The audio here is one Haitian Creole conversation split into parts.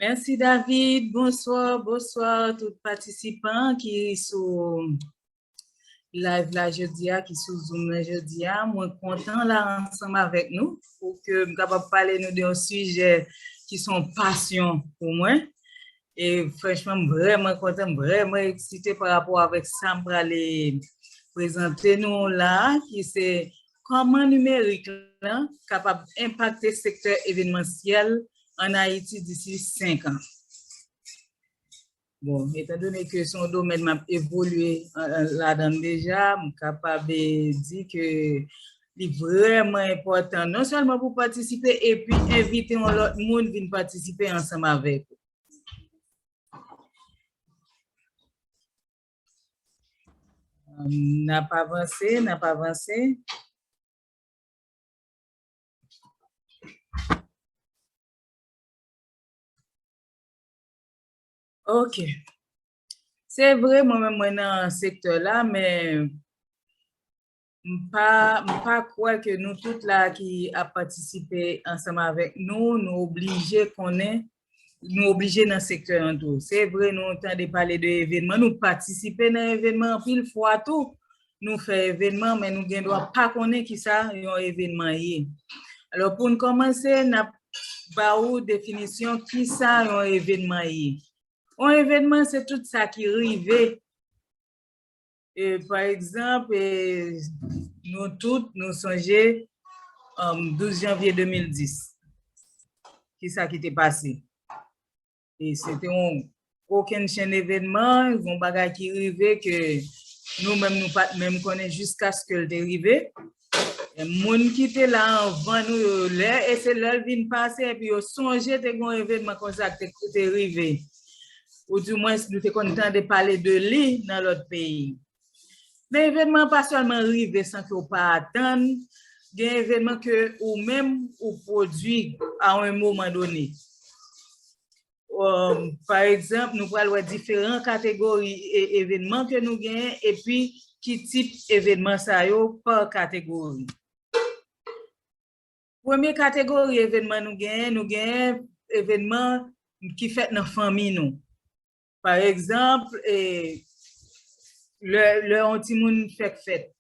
Merci David, bonsoir, bonsoir tout patisipan ki sou live la jodi a, ki sou zoom la jodi a. Mwen kontan la ansanm avèk nou pou ke m kapab pale nou de yon sijè ki son pasyon pou mwen. E franchman m vrèman kontan, m vrèman eksite pa rapò avèk sa m prale prezante nou la a ki se kòman nimerik la kapab enpakte sektè evenmansyèl an Ayiti disi 5 an. Bon, etan done ke se yon domèn m ap evolye ladan l deja, m kapab di ke Li vrèman enpòtan non sèlman pou patisipe epi envite yon lòt moun vin patisipe ansanm avèk ou. N ap avanse, n ap avanse. Ok. Se vre mwen menm mwen nan sektè la men M pa m pa kwè ke nou tout la ki ap patisipe ansanm avèk nou, nou oblije konnen, nou oblije nan sektè an tou. Se vre nou tande pale de evenman, nou patisipe nan evenman anpil fwa tou, nou fè evenman men nou gen dwa pa konnen ki sa yon evenman ye. Alò pou n kòmanse n ap ba ou definisyon ki sa yon evenman ye. Yon evenman se tout sa ki rive. Pa egzanp, nou tout nou sonje 12 janvye 2010. Ki sa ki te pase? E se te yon kokenn chenn evenman, yon bagay ki rive ke nou menm nou pat menm konnen jiskaske l te rive. Men moun ki te la anvan nou yo, lè e se lè l vin pase epi yo sonje te gen yon evenman konsa k te ki te rive, ou di mwens nou te konn tande pale de li nan lòt peyi. Men evenman an pa sèlman rive san ke w pa atann, gen evenman ke ou menm ou pwodui a yon moman done. Pa egzanp, nou pral wè diferan kategori evenman ke nou genyen epi ki tip evenman sa yo pa kategori. Premye kategori evenman nou genyen, nou genyen evenman ki fèt nan fanmi nou. Pa egzanp, lè yon timoun fèk fèt.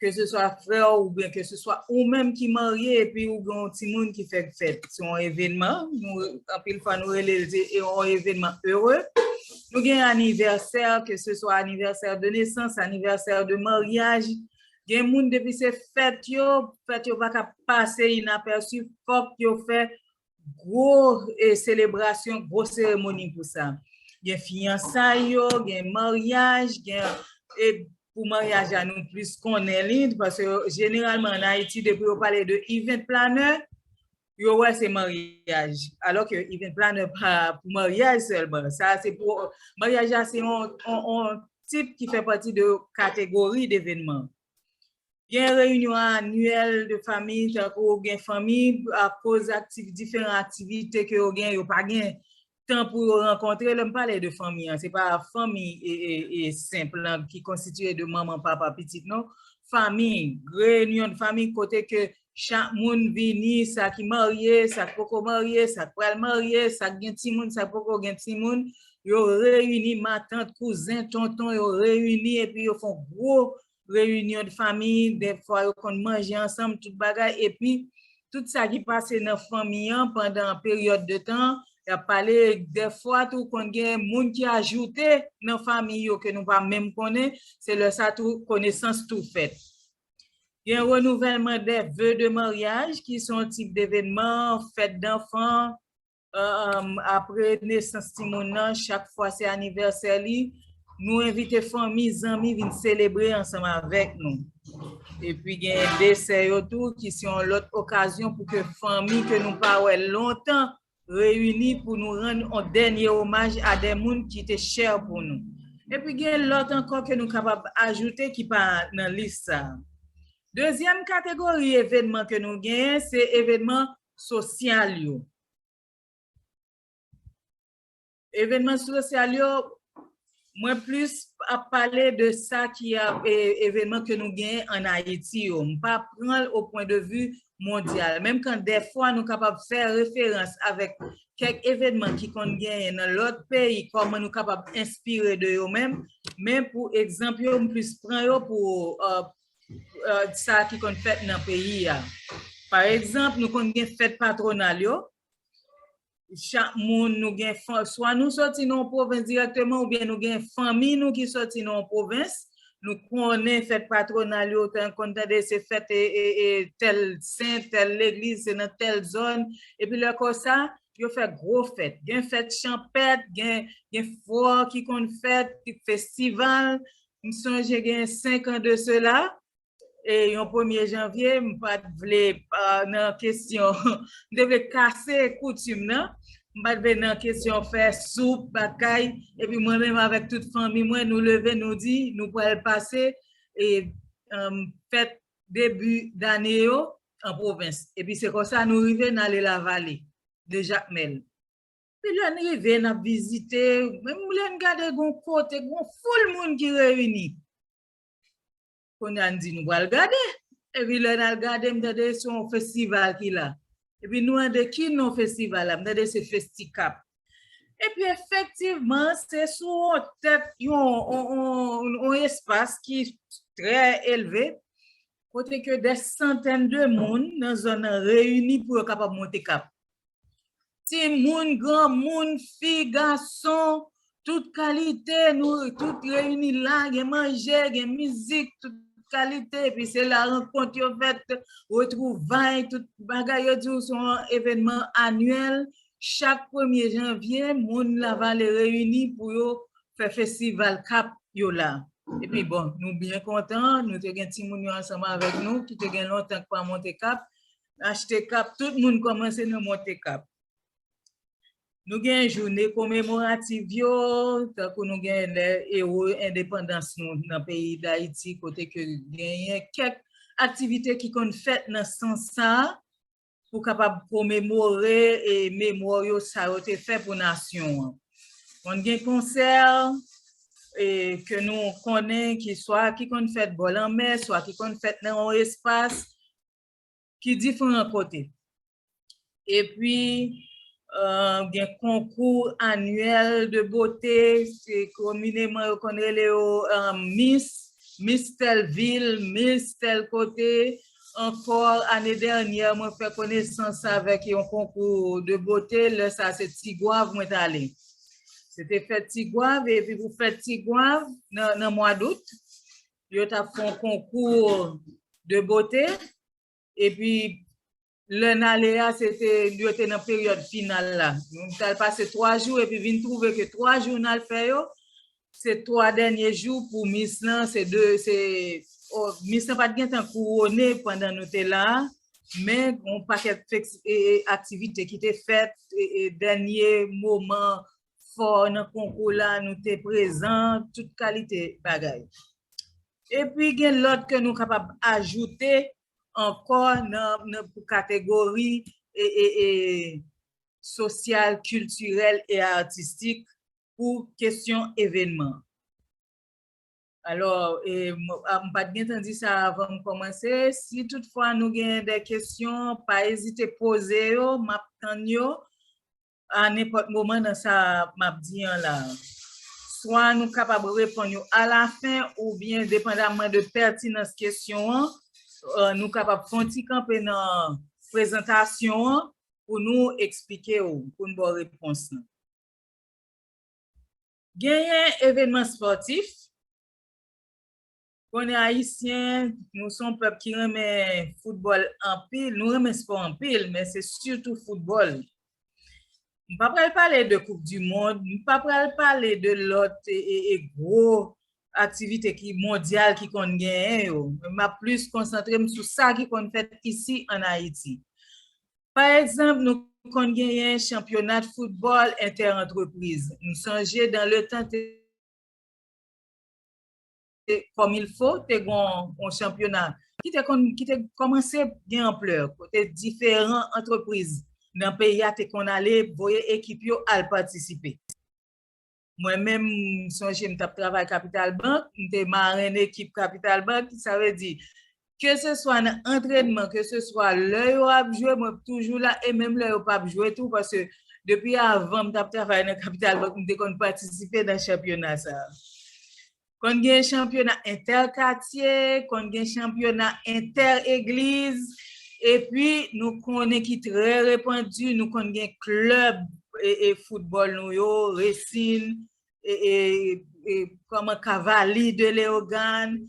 ke se swa frè w oubyen ke se swa ou menm ki marye epi ou gen yon timoun ki fèk fèt, se yon evenman, anpil fwa nou rele l se yon evenman ere, nou gen anivèsè, ke se swa anivèsè de nesans, anivèsè de maryaj, gen moun depi se fèt yo, fèt yo pa ka pase inapèsi, fòk yo fè gwo selebrasyon, gwo seremoni pou sa. Gen fiyansay yo, gen maryaj, gen e pou maryaj la nou plis konnen li, paske jeneralman an Ayiti depi yo pale de event planner, yo wè se maryaj. Alò ke event planner pa pou maryaj sèlman. Sa se pou, maryaj la se yon tip ki fè pati de kategori devenman. Gen reyinyon anyèl de fanmi tankou ou gen fanmi akoz diferan aktivite ke yo gen yo pa gen tan pou yo rankontre. Lè m pale de fanmi an se pa fanmi senp lan ki konsitye de manman, papa, pitit non. Fanmi, reyinyon de fanmi kote ke Chak moun vini, sa ki marye, sa k poko marye, sa k pral marye, sa k gen timoun, sa k poko gen timoun, yo reyini, matant, kouzen, tonton, yo reyini epi yo fè yon gwo reyinyon de fanmi, dèfwa yo konn manje ansanm, tout bagay, epi tout sa ki pase nan fanmi an pandan peryòd de tan an, y ap pale, dèfwa tou konn gen moun ki ajoute nan fanmi yo ke nou pa menm konnen, se lè sa tou konesans tou fèt. Gen renouvèlman dè ve de maryaj ki se yon tip devenman, fèt danfan, apre nesans timoun nan, chak fwa se anivèsè li, nou envite fanmi, zanmi vin selebre ansanm avèk nou. Epi gen desè yo tou ki se yon lòt okazyon pou ke fanmi ke nou pa wè lontan reyini pou nou rann on dènye omaj a de moun ki te chè pou nou. Epi gen lòt ankò ke nou kapab ajoute ki pa nan lis sa a. Dezyèm kategori evenman ke nou genyen se evenman sosyal yo. Evenman sosyal yo, mwen plis ap pale de sa ki ap evenman ke nou genyen an Ayiti yo. M pa pran o pwen de vi mondyal. Menm kan dèfwa nou kapab fè referans avèk kèk evenman ki konn genyen nan lòt peyi kòman nou kapab enspire de yo menm, men pou egzanp yo m plis pran yo pou sa ki konn fèt nan peyi a. Pa egzanp nou konn gen fèt patronal yo, Chak moun nou gen swa nou soti nan yon pwovens dirèkteman oubyen nou gen fanmi nou ki soti nan yon pwovens. Nou konnen fèt patwonal yo, tan konn tande se fèt tèl sen, tèl legliz, se nan tèl zòn. Epi lè konsa, yo fè gwo fèt. Gen fèt chanpèt, gen fò ki konn fèt, festival. M sonje gen senkan de sela, e yon premye janvye m pat vle nan kesyon m te vle kase koutim nan m pat vle nan kesyon fè soup batay epi mwen menm avèk tout fanmi mwen nou leve nou di nou pral pase e fèt debi dane yo an pwovens epi se konsa nou rive n ale lavale de jakmèl epi lè n rive n ap vizite menm lè n gade gon kote gon foul moun ki reyini. Kounye a n di nou pral gade. Epi lè n al gade m tande se yon festival ki la. Epi nou mande ki non festival la, m tande se Festicap. Epi efektivman se sou yon tèt yon espas ki trè elve kote ke dè santèn de moun nan zòn nan reyini pou yo kapab monte kap. Timoun, granmoun, fi, gason, tout kalite, nou tout reyini la, gen manje, gen mizik, tout kalite, epi se la rankont yo fèt, retwouvay, tout bagay, yo di ou se yon evènman anyèl, chak premye janvye, moun Lavale reyini pou yo fè festival kap yo la. Epi bon, nou byen kontan, nou te gen timoun yo ansanm avèk nou ki te gen lontan ki pa monte kap, Achte kap, tout moun kòmanse nan monte kap. Nou gen joune komemorativ yo, tankou nou gen lè ewo endepandans nou nan peyi Dayiti, kote ke genyen kèk aktivite ki konn fèt nan sans sa, pou kapab komemore e memoryo sa yo te fè pou nasyon an. Konn gen konsè, e ke nou konnen ki swa ki konn fèt bò lanmè, swa ki konn fèt nan yon espas, ki diferan kote. E pi gen konkou anyèl de bote, se komineman yo konn rele yo mis, mis tèl vil, mis tèl kote. Ankò ane dènyè mwen fè konesans avèk yon konkou de bote, lè sa se Tigwav mwen t ale. Se te fèt Tigwav e pi pou fèt Tigwav nan mwa dout, yo t ap fè yon konkou de bote, epi lè n ale a se te, yo te nan peryòd final la. Nou t al pase 3 jou epi vin twouve ke 3 jou n al fè yo, se 3 dènye jou pou mis lan, se 2, se, mis lan pa t gen tan kouwone pandan nou te la a, men gon pakèt aktivite ki te fèt, dènye moman fò nan konkou la, nou te prezan, tout kalite bagay. Epi gen lòt ke nou kapab ajoute ankò nan pou kategori sosyal, kiltirèl e atistik pou kesyon evenman. Alò, m pat gentan di sa avan m kòmanse, si tout fwa nou gen de kesyon, pa ezite poze yo, m ap tann yo. a nenpòt moman nan sa m ap di an la a. Swa nou kapab reponn yo alafen oubyen depandamman de pètinans kesyon an, nou kapab fè yon ti kanpe nan prezantasyon an pou nou eksplike ou, pou n ba w repons lan. Genyen evènman spòtif. Konnen ayisyen, nou se yon pèp ki renmen foutbòl anpil, nou renmen spò anpil, men se sitou foutbòl. M pa pral pale de koup di mond, m pa pral pale de lòt gwo aktivite ki mondyal ki konn genyen yo, men m ap plis konsantre m sou sa ki konn fèt isi an Ayiti. Pa egzanp, nou konn genyen chanpyonat foutbòl entè antrepriz. M sonje dan le tan te. kòm il fo, te gon yon chanpyona ki te konn, ki te kòmanse gen anplè, kote diferan antrepriz nan peyi a te konn ale voye ekip yo al patisipe. Mwen menm, m sonje m t ap travay Kapital Bank, m te marenn ekip Kapital Bank, sa vle di, ke se swa nan antrenman, ke se swa lè yo ap jwe mwen ap toujou la e menm lè yo pap jwe tou paske depi avan m tap travay nan kapital bank m te konn patisipe nan chanpyona sa. Konn gen chanpyona entè katye, konn gen chanpyona entè egliz epi nou konnen ki trè repandi nou konn gen klèb e foutbòl nou yo resin e kòman kavali de leogane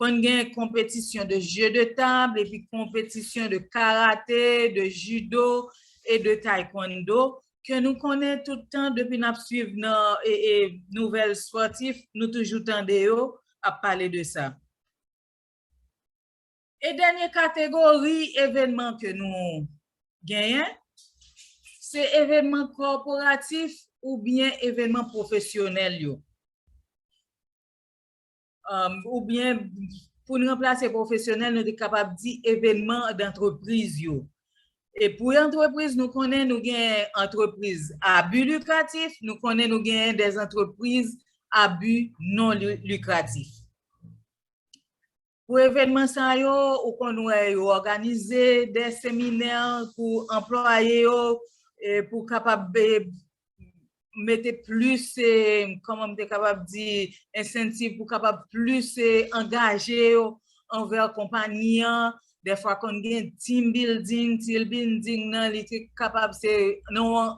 Konn gen konpetisyon de jeu de table epi konpetisyon de karate, de judo e de taekwondo ke nou konnen tout tan depi n ap swiv nan nouvèl spòtif nou toujou tande yo ap pale de sa. E dènye kategori evenman ke nou genyen se evenman kòporatif oubyen evenman pwofesyonèl yo. Ou byen pou n ranplase pwofesyonèl nou te kapab di evenman dantrepriz yo. E pou antrepriz nou konnen nou gen antrepriz a bi likratif, nou konnen nou gen dezantrepriz a bi non likratif. Pou evenman sa yo ou konn wè yo òganize de seminè pou anplwaye yo pou kapab mete plis e, kòman m te kapab di, ensentiv pou kapab plis e angaje yo anvè konpani an. Dèfwa konn gen team building, team building nan li te kapab se nan yon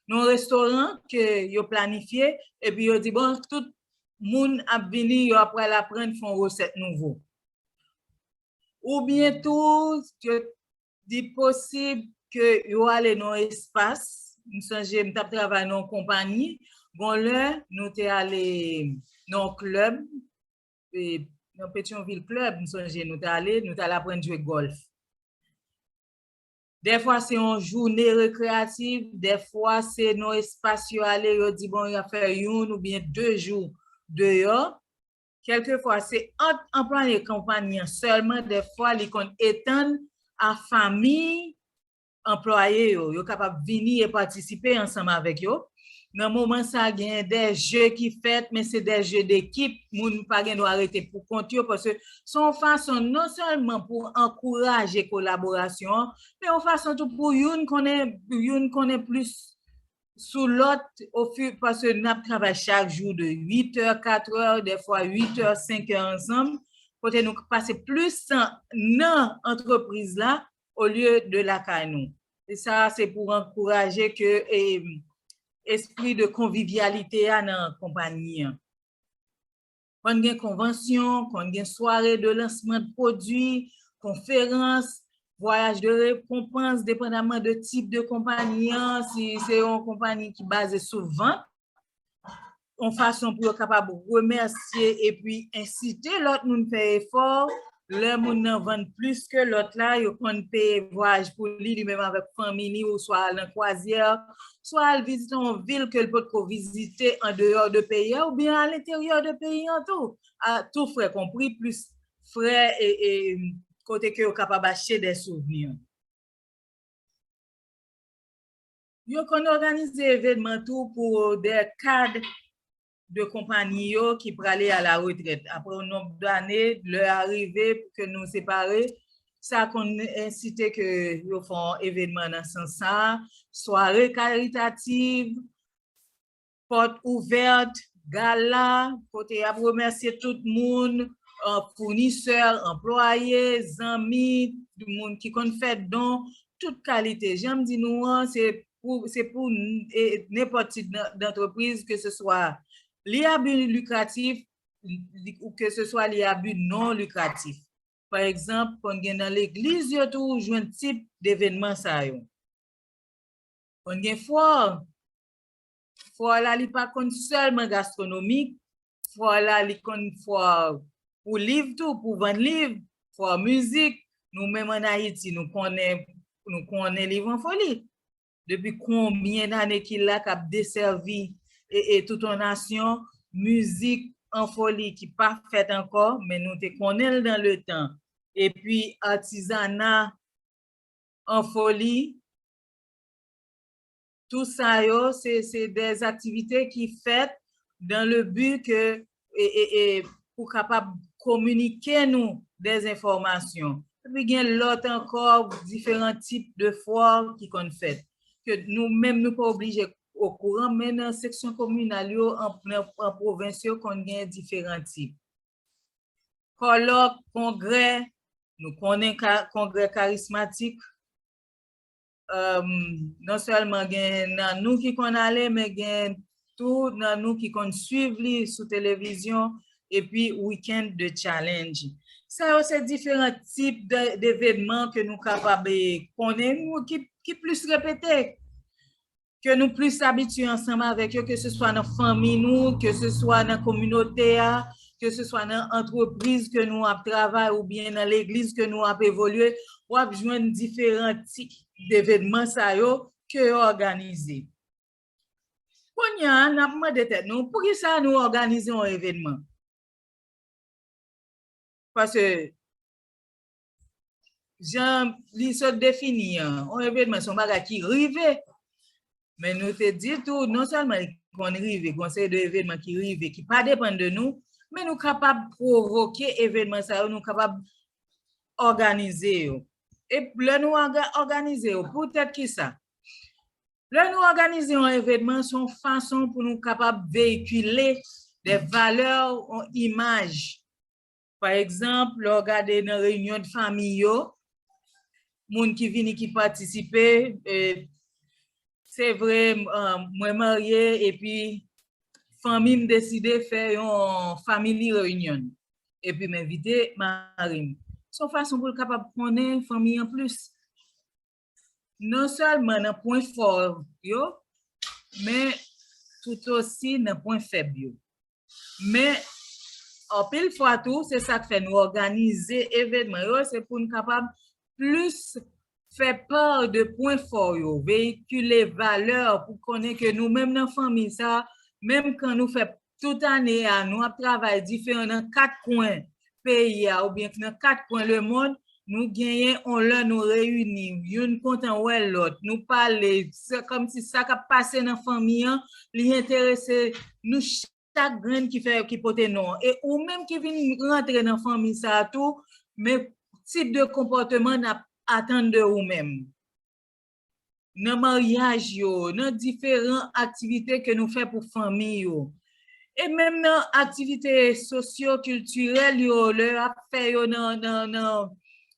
nan yon restoran ke yo planifye epi yo di bon tout moun ap vini yo ap pral aprann fè yon resèt nouvo. Oubyen tou, yo Li posib ke yo ale nan yon espas, m sonje m t ap travay nan yon konpani, gon lè nou te ale nan yon klèb, nan Petyonvil klèb m sonje nou t ale, nou t al aprann jwe gòlf. Dèfwa se yon joune rekreyativ, dèfwa se nan yon espas yo ale yo di bon y ap fè youn oubyen de jou deyò. Kèlke fwa se ant anplwaye konpayi an sèlman dèfwa li konn etann a famiy anplwaye yo, yo kapab vini e patisipe ansanm avèk yo. Nan moman sa a genyen de je ki fèt men se de je dekip, moun pa gen dwa rete pou kont yo paske se yon fason non sèlman pou ankouraje kolaborasyon an men yon fason tou pou youn konnen youn konnen plis Sou lòt, ofi, paske n ap travay chak jou de 8 è, 4 è, dèfwa 8 è, 5 è ansanm, kote nou k pase plis tan nan antrepriz la olye de lakay nou. E sa a se pou ankouraje ke espri de konvivyalite a nan konpanyi an. Konn gen konvansyon, konn gen sware de lansman de pwodui, konferans, vwayaj de rekonpans depandaman de tip de konpani an, si se yon konpani ki baze sou vant, yon fason pou yo kapab remèsye epi ensite lòt moun fè efò, Lè moun nan vann plis ke lòt la, yo konn peye vwayaj pou li, li menm avèk fanmi li ou swa al nan kwazyè, swa al vizite yon vil ke l potko vizite an deyò de peyi a oubyen a lenteryè de peyi an tou. A tou frè konpri plis frè e kote ke yo kapab achte dè souvni. Yo konn òganize evenman tou pou dè kad de konpanyi yo ki prale a la retrèt apre yon nonb dane, lè a rive pou ke nou separe, sa konn ensite ke yo fè yon evenman nan sans sa, sware karitativ, pòt ouvèt, gala, kote y ap remèsye tout moun, founisè, anplwaye, zanmi, moun ki konn fè don, tout kalite. Jan m di nou an, se se pou nenpòt tip dantrepriz ke se swa li a bi likratif ou ke se swa li a bi non likratif. Pa egzanp, konn gen nan legliz yo tou ou jwenn tip devenman sa yo. Konn gen fwòm. Fwa la li pa konn sèlman gastronomik, fwa la li konn fwa pou liv tou, pou vann liv, fwa mizik, nou menm an Ayiti nou konnen, nou konnen Liv an Foli. Depi konbyen dane ki la k ap desèvi e tout yon nasyon, mizik an foli ki pa fèt ankò men nou te konnen l dan le tan. E pi atizana an foli. Tout sa yo se de aktivite ki fèt dan le bi ke pou kapab kominike nou de enfòmasyon. Epi gen lòt ankò diferan tip de fwa ki konn fèt. Ke nou menm nou pa oblije okouran men nan seksyon kominal yo an pwovens yo konn gen diferan tip. Kòlòk, kongrè, nou konnen kongrè karismatik. Non sèlman gen nan nou ki konn ale men gen tou nan nou ki konn swiv li sou televizyon epi Weekend de Challenge. Sa yo se diferan tip devenman ke nou kapab konnen ki plis repete. ke nou plis abitye ansanm avèk yo, ke se swa nan fanmi nou, ke se swa nan kominote a, ke se swa nan antrepriz ke nou ap travay ou byen nan legliz ke nou ap evolye, w ap jwenn diferan tip devenman sa yo ke yo òganize. Kounya a, n ap mande tèt nou, pou ki sa nou òganize yon evenman? Pase, jan li sot defini an, yon evenman son bagay ki rive, men nou te di tou, non sèlman li konn rive, gon seri de evenman ki rive, ki pa depan de nou, men nou kapab provoke evenman sa yo, nou kapab òganize yo. E lè nou òganize yo, pou tèt ki sa? Lè nou òganize yon evenman, son fason pou nou kapab veykile de valè, yon imaj, Pa egzanp, lè w gade nan reyinyon de fanmi yo, moun ki vini ki patisipe, se vre mwen marye epi fanmi m deside fè yon family reunion epi m envite mari m. Se yon fason pou l kapab konnen fanmi an plis. non sèlman nan pwen fò yo, men toutosi nan pwen fèb yo. Men, anpil fwa tou, se sa k fè nou òganize evènman yo, se pou n kapab plis fè part de pwen fò yo, veyikile valè pou konnen ke nou menm nan fanmi sa a, menm kan nou fè Tout ane a, nou ap travay diferan nan kat kwen peyi a oubyen k nan kat kwen lemond, nou genyen on lè nou reyini, youn kontan wè lòt, nou pale, se kòmsi sa k ap pase nan fanmi an, li enterese nou chak grenn ki fè, ki pote non an. E ou menm ki vin rantre nan fanmi sa a tou, men tip de konpòteman n ap atann de ou menm. nan maryaj yo, nan diferan aktivite ke nou fè pou fanmi yo, e menm nan aktivite sosyo kiltirèl yo lè yo ap fè yo nan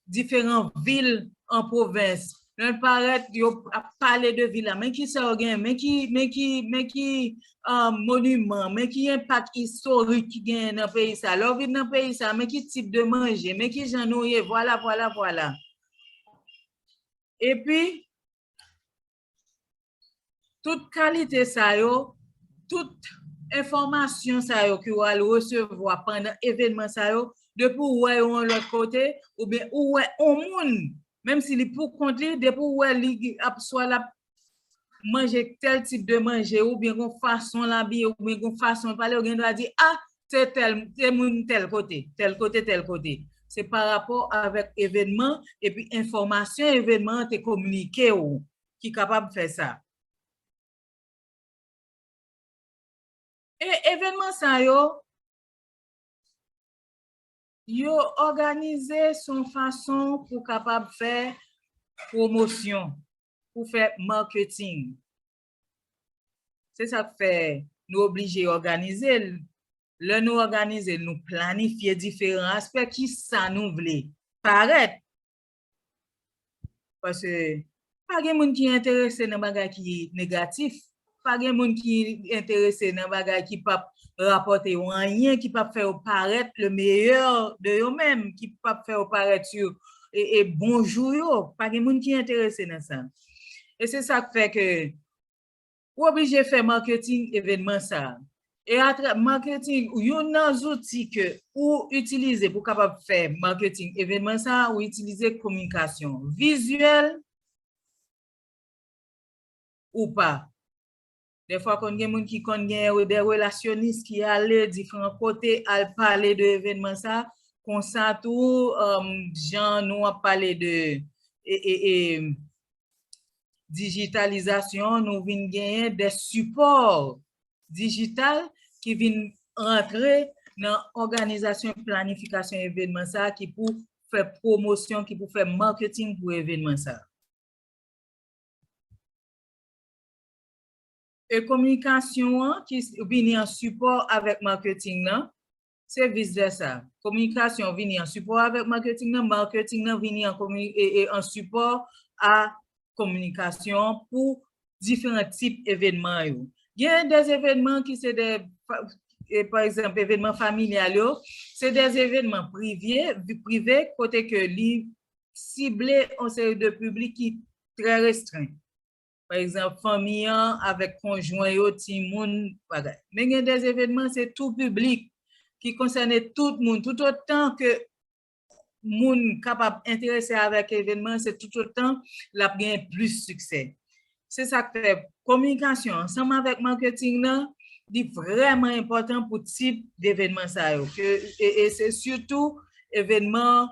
diferan vil an pwovens, lè yo parèt yo ap pale de vil la, men ki sa yo genyen, men ki, men ki, men ki moniman, men ki enpak istorik ki genyen nan peyi sa, lè w vin nan peyi sa, men ki tip de manje, men ki jan nou ye, vwala, vwala, vwala. Epi, tout kalite sa yo, tout enfòmasyon sa yo ke ou al resevwa pandan evenman sa yo, depi ou wè yo yon lòt kote, oubyen ou wè yon moun, menm si li pou kont li, depi ou wè li ap swa l ap manje tèl tip de manje ou byen gon fason l abiye ou byen gon fason l pale ou gen dwa di a se tèl se moun tèl kote tèl kote tèl kote se pa rapò avèk evènman epi enfòmasyon evènman an te kominike ou ki kapab fè sa. E evènman sa yo yo òganize s on fason pou kapab fè pwomosyon. pou fè marketing. Se sa k fè nou oblije òganize l. Lè nou òganize l, nou planifye diferan aspè ki sa nou vle parèt. Pase pa gen moun ki enterese nan bagay ki negatif. Pa gen moun ki enterese nan bagay ki pap rapòte yo anyen, ki pap fè yo parèt le meyè de yo menm, ki pap fè yo parèt sou bon jou yo. Pa gen moun ki enterese nan sa. E se sa k fè ke ou oblije fè marketing evenman sa. E atra, marketing, youn nan zouti ke ou itilize pou kapab fè marketing evenman sa, ou itilize kominkasyon vizyèl, ou pa. Dèfwa konn gen moun ki konn gen dè relasyonis ki ale diferan kote al pale de evenman sa, konsa tou jan nou ap pale de dijitalizasyon nou vin genyen dè sipò dijital ki vin rantre nan òganizasyon planifikasyon evenman sa ki pou fè pwomosyon, ki pou fè marketing pou evenman sa. E kominikasyon an ki vini an sipò avèk marketing nan, se vis vèsa. Kominikasyon an vini an sipò avèk marketing nan, marketing nan vini an sipò a kominikasyon an pou diferan tip evènman yo. Gen de evènman ki se de, pa egzanp, evènman familyal yo, se de evènman prive kote ke li sible yon seri de piblik ki trè restren. Pa egzanp, fanmi an avèk konjwen yo, timoun, bagay. Men gen de evenman se tou piblik, ki konsène tout moun. Toutotan ke moun kapab enterese avèk evenman, se toutotan l ap gen plis siksè. Se sa k fè kominikasyon ansanm avèk marketing nan, li vrèman enpòtan pou tip devenman sa yo. E se sitou evenman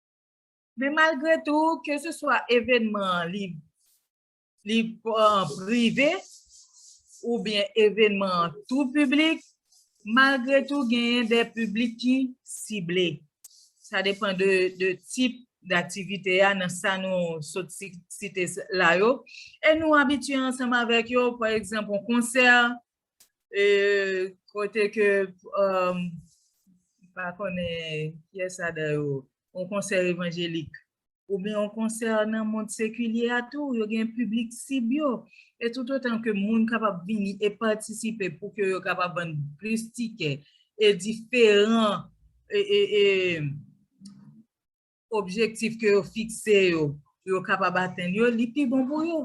Men malgre tou, ke se swa evenman an li li prive ou byen evenman an tou piblik, malgre tou genyen de piblik ki sible. Sa depan de tip d'aktivite a nan sa nou sot site la yo. E nou abitye ansanm avèk yo, pa egzanp yon konsè, kote ke pa konnen pyès adan yo yon konsè evanjelik ou byen yon konsè nan mond sekilye a tou yo gen piblik sib yo e tout otan ke moun kapab vini e patisipe pou ke yo kapab vann plis tikè e diferan e e e objektif ke yo fikse yo, pou yo kapab atenn yo, li pi bon pou yo.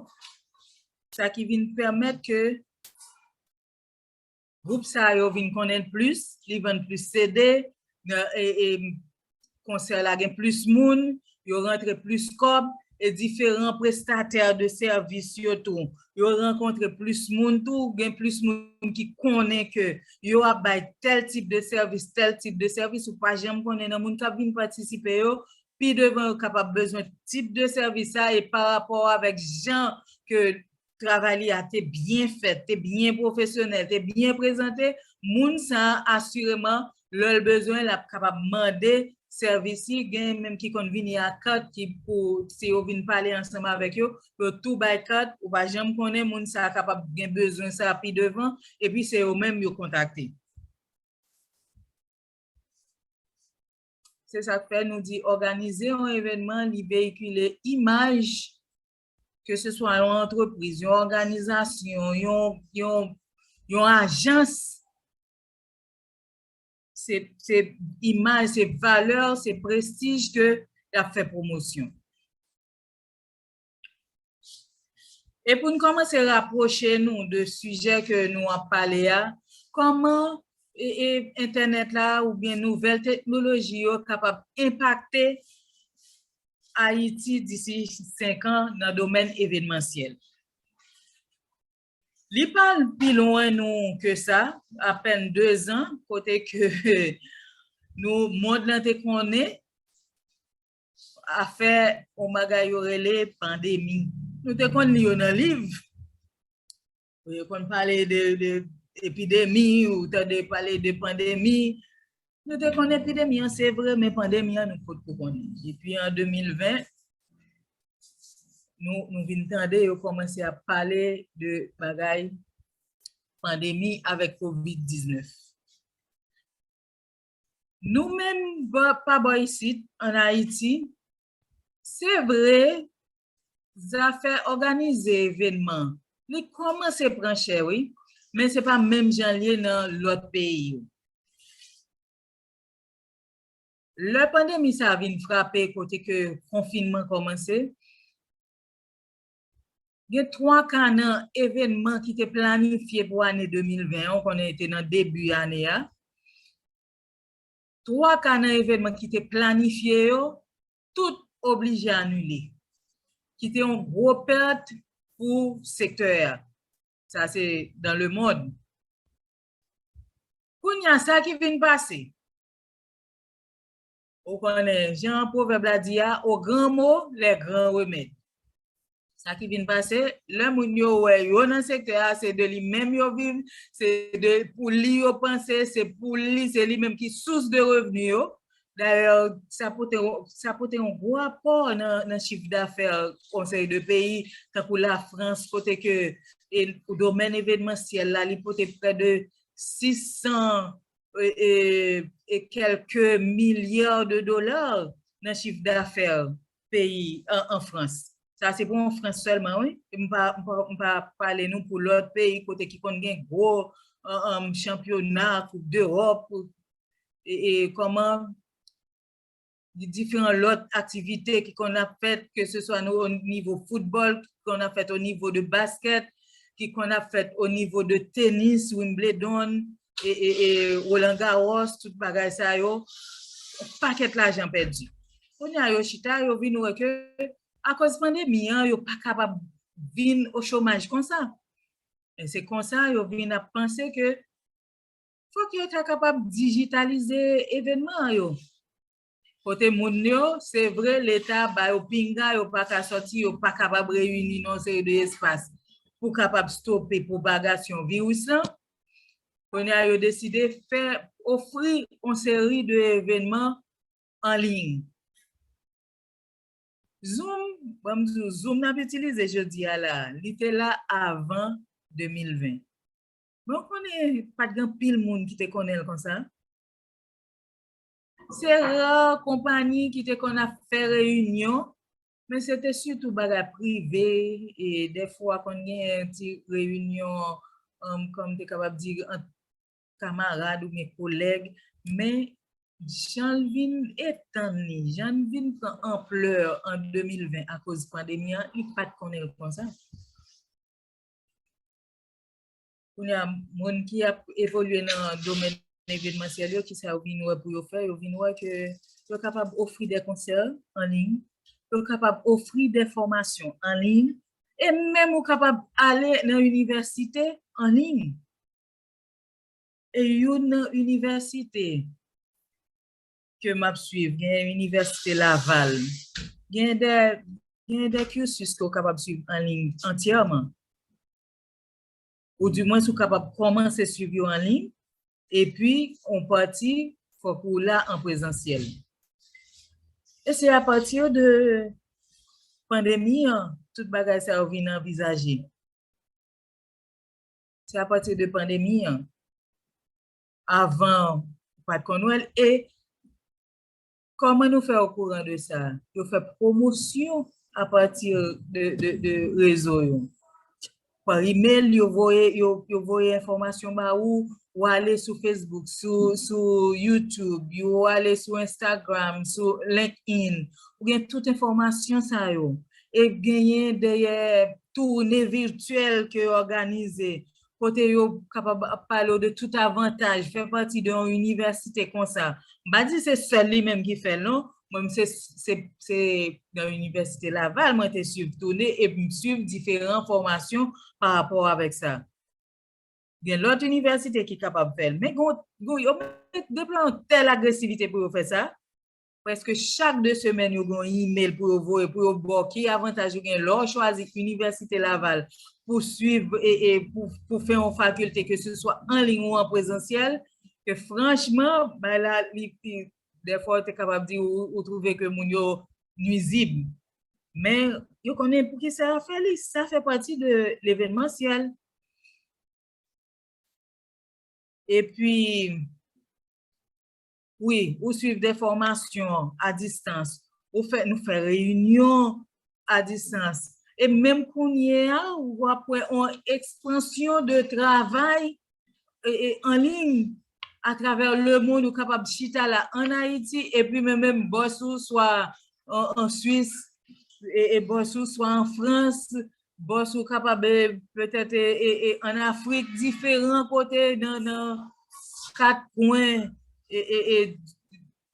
Sa ki vin pèmèt ke gwoup sa yo vin konnen plis, li vann plis CD, konsè la gen plis moun, yo rantre plis kòb, e diferan prestatè de sèvis yo tou, yo rankontre plis moun tou, gen plis moun ki konnen ke yo ap bay tèl tip de sèvis, tèl tip de sèvis, ou pa janm konnen nan moun k ap vin patisipe yo, pi devan yo kapab bezwen tip de sèvis sa e pa rapò avèk jan ke travay li a te byen fèt, te byen pwofesyonèl, te byen prezante, moun sa a asireman lè l bezwen l ap kapab mande sèvis si gen menm ki konn vini ak kat ki pou si yo vin pale ansanm avèk yo yo tou bay kat ou pa janm konnen moun sa a kapab gen bezwen sa pi devan epi se yo menm yo kontakte. Se sa k fè nou di òganize yon evènman li veyikile imaj ke se swa yon antrepriz, yon òganizasyon, yon ajans. Se imaj, se valè, se prestij ke y ap fè pwomosyon. E pou n kòmanse rapwoche nou de sijè ke nou ap pale a, kòman entènèt la oubyen nouvèl teknoloji yo kapab enpakte Ayiti disi 5 an nan domèn evenmansyèl? Li pa al pi lwen nou ke sa, apèn 2 zan, kote ke nou, mond lan te konnen afè yon bagay yo rele pandemi. Nou te konn li yo nan liv, yo konn pale de epidemi, ou tande pale de pandemi, Nou te konnen epidemi an se vre men pandemi an nou pot ko konnen. Depi an 2020 nou vin tande yo komanse ap pale de bagay pandemi avek covid 19. Nou menm pa bò isit an Ayiti se vre Zafè òganize evenman, li kòmanse pran chè wi, men se pa menm jan l ye nan lòt peyi yo. Lè pandemi sa a vin frape kote ke konfinman kòmanse, gen twa ka nan evenman ki te planifye pou ane 2020 an, ou konnen e te nan debi ane a, twa ka nan evenman ki te planifye yo, tout oblije anile. Ki te yon gwo pèt pou sektè a. Sa se dan le mond. Kounye a sa ki vin pase. Ou konnen jan pwovèb la di a, o gran mo, lè gran remèd. Sa ki vin pase, lè moun yo wè yo nan sektè a, se de li menm yo viv, se de pou li yo panse, se pou li, se li menm ki sous de revni yo. Dayè, sa pote, sa pote yon gwo apò nan chif dafè konsèy de peyi, tankou la Frans, kote ke domèn evenmansyèl la, li pote prè de 600 e kèlke milya de dola nan chif dafè. peyi an frans sa se pou an frans selman wi m pa pale nou pou lot peyi kote ki konn gen gwo chanpyona koup d'europe e koman di diferan lot aktivite ki konn ap fet ke se swa nou o nivo football ki konn ap fet o nivo de basket ki konn ap fet o nivo de tenis wimbledon e roland garros tout bagay sa yo paket lajan pedi Kounye a yo chita, yo vin wè ke akoz pandemi an, yo pa kapab vin o chomaj konsa. E se konsa yo vin ap panse ke fòk yo ta kapab dijitalize evènman an yo. Kote moun yo, se vre leta ba yo pinga, yo pa ka sòti, yo pa kapab reyini nan yon seri de espas pou kapab stope pwopagasyon viris lan. Kounye a yo deside fè, ofri yon seri de evènman anliy. Zoom, ban m di w, zoom n ap itilize jodi a la, li te la avan 2020. Men w konnen pa t gen anpil moun ki te konnen l konsa. Se ra konpani ki te konn ap fè reyinyon, men se te sitou bagay prive, e dèfwa konn gen ti reyinyon, kòm m te kapab di, ant kamarad ou byen kolèg, men jan l vin etann li, jan l vin pran anplè an 2020 akoz pandemi an, li pa t konnen l konsa. Kounye a, moun ki ap evolye nan domèn evenmansyèl yo, kisa yo vin wè pou yo fè? Yo vin wè ke yo kapab ofri de konsè an liy, yo kapab ofri de fòmasyon an liy, e menm ou kapab ale nan inivèsite an liy. E youn nan inivèsite ke map swiv, gen inivèsite Laval, gen de gen de cursus ke ou kapab swiv an liy antyèman. Ou di mwens ou kapab kòmanse swiv yo an liy, epi on pati fòk ou la an prezansyèl. E se apati de pandemi an tout bagay sa yo vin anvizaje. se apati de pandemi an, avan pat konn wèl, e kòman nou fè okouran de sa, yo fè pwomosyon apati de rezo yo, pa email yo voye enfòmasyon ba ou, ou ale sou Facebook, sou YouTube, ou ale sou Instagram, sou LinkedIn, ou gen tout enfòmasyon sa yo, e genyen dèyè toune virtyèl ke yo òganize, kote yo kapab ap pale w de tout avantaj fè pati de yon inivèsite konsa. M pa di se sèl li menm ki fè l non, mwen m se se nan inivèsite Laval mwen te swiv toune e m swiv diferan fòmasyon pa rapò avèk sa. Gen lòt inivèsite ki kapab fè l men gen yon yo mèt deploye yon tèl agresivite pou yo fè sa, Prèske chak 2 semèn yo gen yon imel pou yo voye pou yo ba w ki avantaj ou gen lè w chwazi Inivèsite Laval pou swiv e pou fè yon fakilte ke se swa an liy ou an prezansyèl ke franchman bagay la li pi dèfwa ou te kapab di ou twouve ke moun yo nwizib men yo konnen pou ki sa yo fè li sa fè pati de levenmansyèl epi. Wi, ou swiv de fòmasyon a distans, ou fè, nou fè reyinyon a distans, e menm kounye a w ap wè yon ekspansyon de travay an liy atravè lemonn, ou kapab chita la an Ayiti epi men menm bòs ou swa an Swis, e bòs ou swa an Frans, Boss ou kapab petèt an Afrik diferan kote nan 4 kwen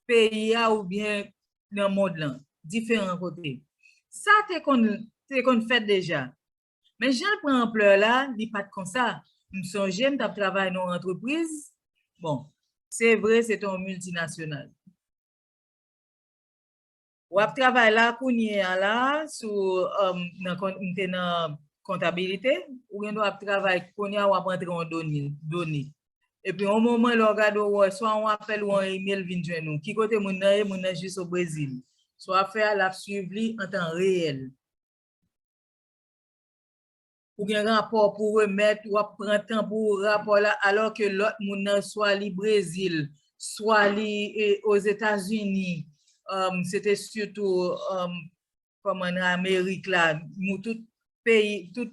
peyi a oubyen nan mond lan, diferan kote. Sa te konn fèt deja. Men jan l pran anplè la, li pa t konsa. M sonje m t ap travay nan yon antrepriz, bon, se vre se te yon miltinasyonal. Wap travay la kounye a la sou m te nan kontabilite, ou gen dwa ap travay kounye a wap antre yon done. Epi yon moman lè w gade w wè swa yon apèl ou yon email vin jwenn ou. Ki kote moun nan ye? Moun nan jis o Brezil. Sa wap fè a lap swiv li an tan reyèl. ou gen rapò pou remèt, w ap pran tan pou rapò la, alò ke lòt moun nan swa li Brezil, swa li Ozetazini, se te sitou kòman nan Amerik la, moun tout peyi, tout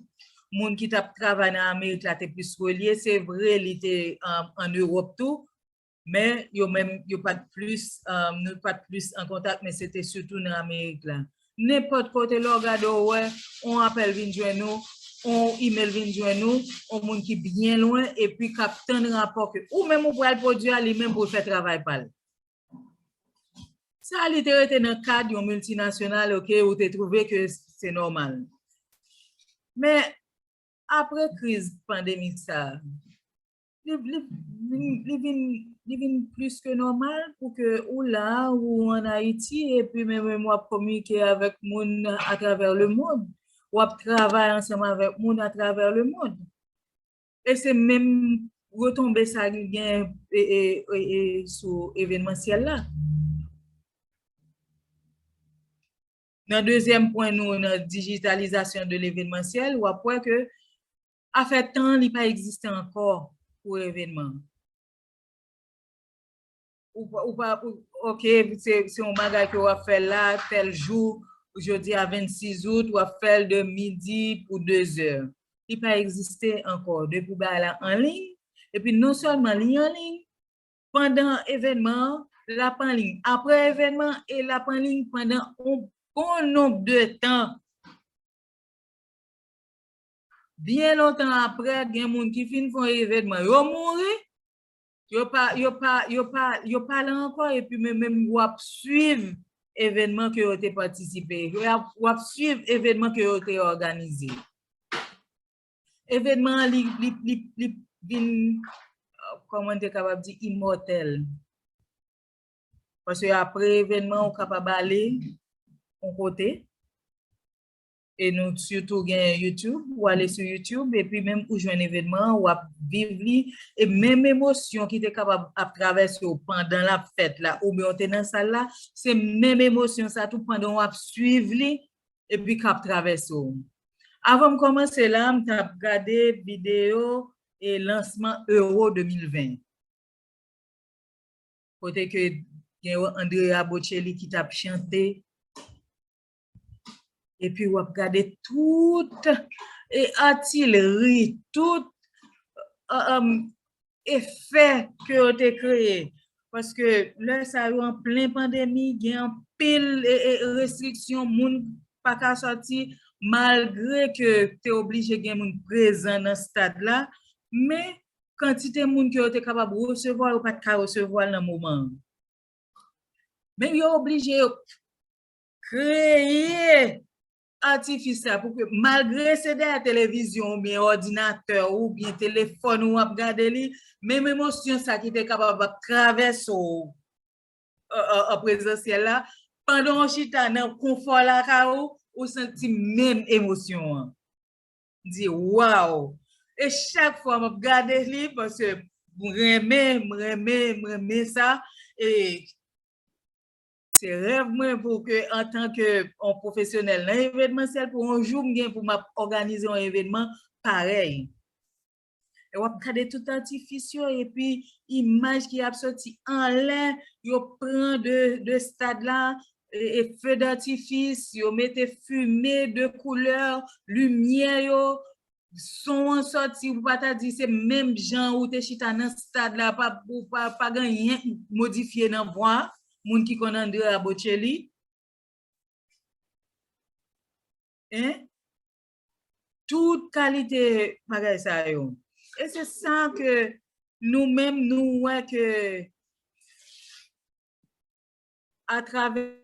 moun ki t ap travay nan Amerik la te plis relye, se vre li te an Ewòp tou, Men, yo menm, yo pa t plis, nou pa t plis an kontak, men se te sitou nan Amerik la. Nenpòt kote lè w gade w wè on apèl vin jwenn ou, on imel vin jwenn ou, on moun ki byen lwen epi k ap tann rapò ke ou menm ou pral pwodui a, li menm pou l fè travay pa l. Sa li te rete nan kad yon miltinasyonal ok, ou te twouve ke se nòmal. Men, apre kriz pandemi sa a, Li vin plis ke nòmal pou ke ou la, ou an Ayiti, epi menm menm wap kominike avèk moun atravè le mond. Wap travay ansanm avèk moun atravè le mond. E se menm retonbe sa li gen sou evenmansyèl la. Nan dezyèm pwen nou nan dijitalizasyon de levenmansyèl, wap wè ke Afè tan li pa egziste ankò pou evenman. Ou pa ok se yon bagay ke wap fè la tèl jou jodi a 26 out wap fèl de midi pou 2 zè. Li pa egziste ankò depi bagay la anliy epi non sèlman li anliy pandan evenman an lap anliy aprè evenman e lap anliy pandan yon bon nonb de tan. Byen lontan apre, gen moun ki fin fè yon evènman, yo mouri, yo pa la ankò epi men menm ou ap swiv evènman ke yo te patisipe, ou ap swiv evènman ke yo te òganize. Evènman an li vin, kòman m te kapab di, imòtèl. Paske apre evènman ou kapab ale yon kote. E nou sitou gen YouTube, ou ale sou YouTube epi menm ou jwenn evènman an, w ap viv li, e menm emosyon ki te kapab ap travèse w pandan l ap fèt la oubyen ou te nan sal la, se menm emosyon sa tou pandan w ap suiv li epi k ap travèse w. Avan m kòmanse la, m t ap gade videyo e lansman Euro 2020, kote ke gen Andrea Bocelli ki t ap chante. Epi w ap gade tout e atilri, tout efè ke yo te kreye. Paske lè sa yo an plen pandemi, gen anpil restriksyon, moun pa ka sòti, malgre ke te oblije gen moun prezan nan stad la, men kantite moun ke yo te kapab resevwa, yo pa t ka resevwa l nan moman an. Men yo oblije yo kreye atifis la pou ke malgre se dèyè televizyon ou byen òdinatè ou byen telefòn ou ap gade li, menm emosyon sa ki te kapab ap travèse w an prezansyèl la, pandan ou chita nan konfò lakay ou, ou santi menm emosyon an. M di waw! E chak fwa m ap gade li, paske m renmen, m renmen, m renmen sa, e Se rèv mwen pou ke antan ke yon pwofesyonèl nan evenmansyèl pou yon jou m gen pou m ap òganize yon evenman parèy. E w ap gade tout atifis yo epi imaj ki ap soti anlè yo pran de stad la e fedatifis, yo mete fime de koulè, limyè yo, Son an sòti ou pa ta di se menm jan ou te chita nan stad la pa ou pa pa gen anyen ki modifye nan vwa moun ki konn Andrea Bocelli hein tout kalite bagay sa yo e se sa ke nou menm nou wè ke atrave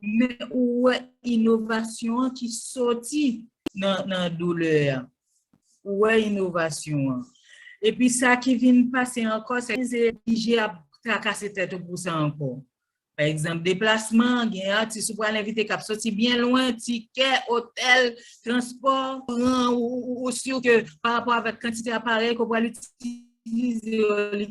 Men ou wè inovasyon an ki soti nan doulè a. Ou wè inovasyon an. E pi sa ki vin pase ankò, se oblije ap trakase tèt ou pou sa ankò. Pa egzanp, deplasman, gen atis ou pral envite k ap soti byen lwen, tikè, otèl, transpò, kouran, ou si ke pa rapò avèk kantite aparèy ke w pral itilize yo li.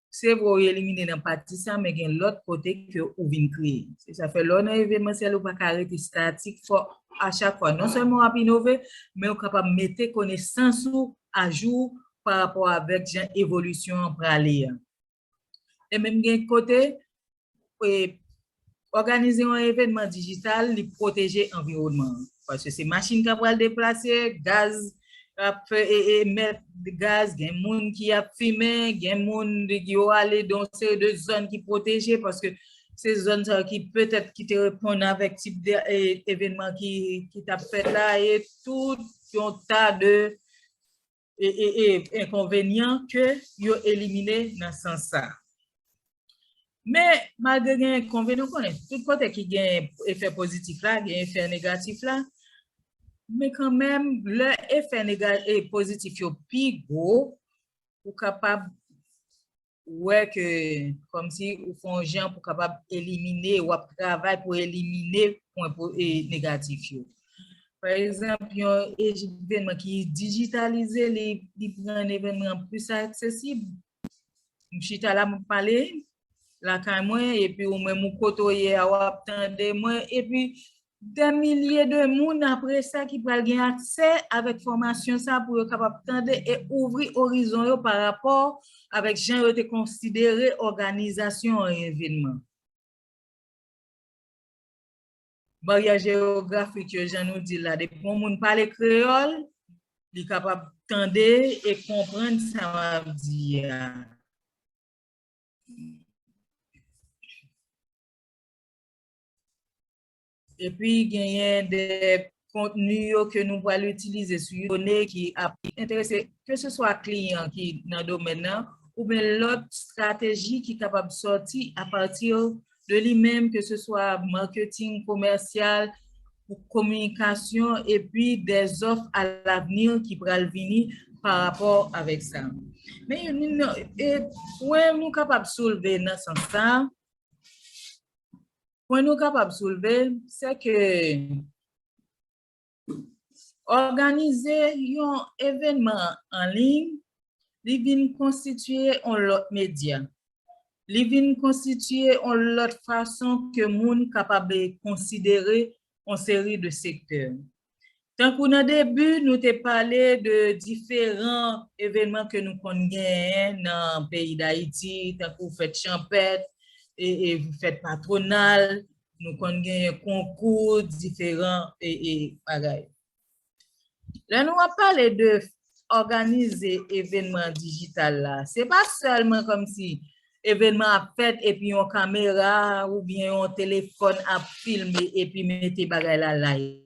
Se vre ou elimine nan pati sa men gen lòt kote ke ou vin kreye. Se sa fè lè ou nan evenmansyèl ou pa ka rete statik fò a chak fwa non sèlman w ap inove men ou kapab mete konesans ou ajou pa rapò avèk jan evolisyon an prale an. E menm gen kote Òganize yon evènman dijital, li pwoteje anviwònman an. Paske se machin k ap pral deplase, gaz k ap fè e emèt gaz, gen moun ki ap fimen, gen moun yo ale dan yon seri de zòn ki pwoteje, paske se zòn sa yo ki petèt ki te reponn avèk tip de evènman ki t ap fèt la e tout yon ta de. enkonvenyan ke yo elimine nan sans sa. Men, malgre gen enkonvenyan, nou konnen, tout kote ki gen efè pozitif la, gen efè negatif la, men kanmenm, lè efè negatif, pozitif yo pi gwo, ou kapab wè ke kòmsi ou fè yon jan pou kapab elimine, w ap travay pou elimine pwen negatif yo. Pa egzanp, yon evènman ki dijitalize, li rann evènman an plis aksesib. M chita la, m ap pale lakay mwen, epi ou menm ou kote ou ye a, w ap tande mwen, epi Dè milye de moun apre sa ki pral gen aksè avèk fòmasyon sa pou yo kapab tande e ouvri orizon yo pa rapò avèk jan yo te konsidere òganizasyon an evenman. Baryè jeyografik yo jan nou di la depi yon moun pale kreyòl li kapab tande e konprann sa w ap di a. Epi genyen de kontni yo ke nou pral itilize sou you done ki ap enterese ke se swa kliyan ki nan domèn nan oubyen lòt strateji ki kapab sòti apati de li menm ke se swa marketing komèsyal, kominikasyon epi de zòf a lavni ki pral vini pa rapò avèk sa. Men, pwen nou kapab soulve nan sans sa, Pwen nou kapab soulve, se ke òganize yon evenman an liy, li vin konstitiye yon lòt medya. Li vin konstitiye yon lòt fason ke moun kapab konsidere yon seri de sektè. Tankou nan debu nou te pale de diferan evenman ke nou konn genyen nan peyi Dayiti tankou fèt chanpèt, fèt patronal, nou konn genyen konkou, diferan bagay. Lè nou ap pale de òganize evènman dijital la, se pa sèlman kòmsi evènman ap fèt epi yon kamera oubyen yon telefòn ap filme epi mete bagay la live.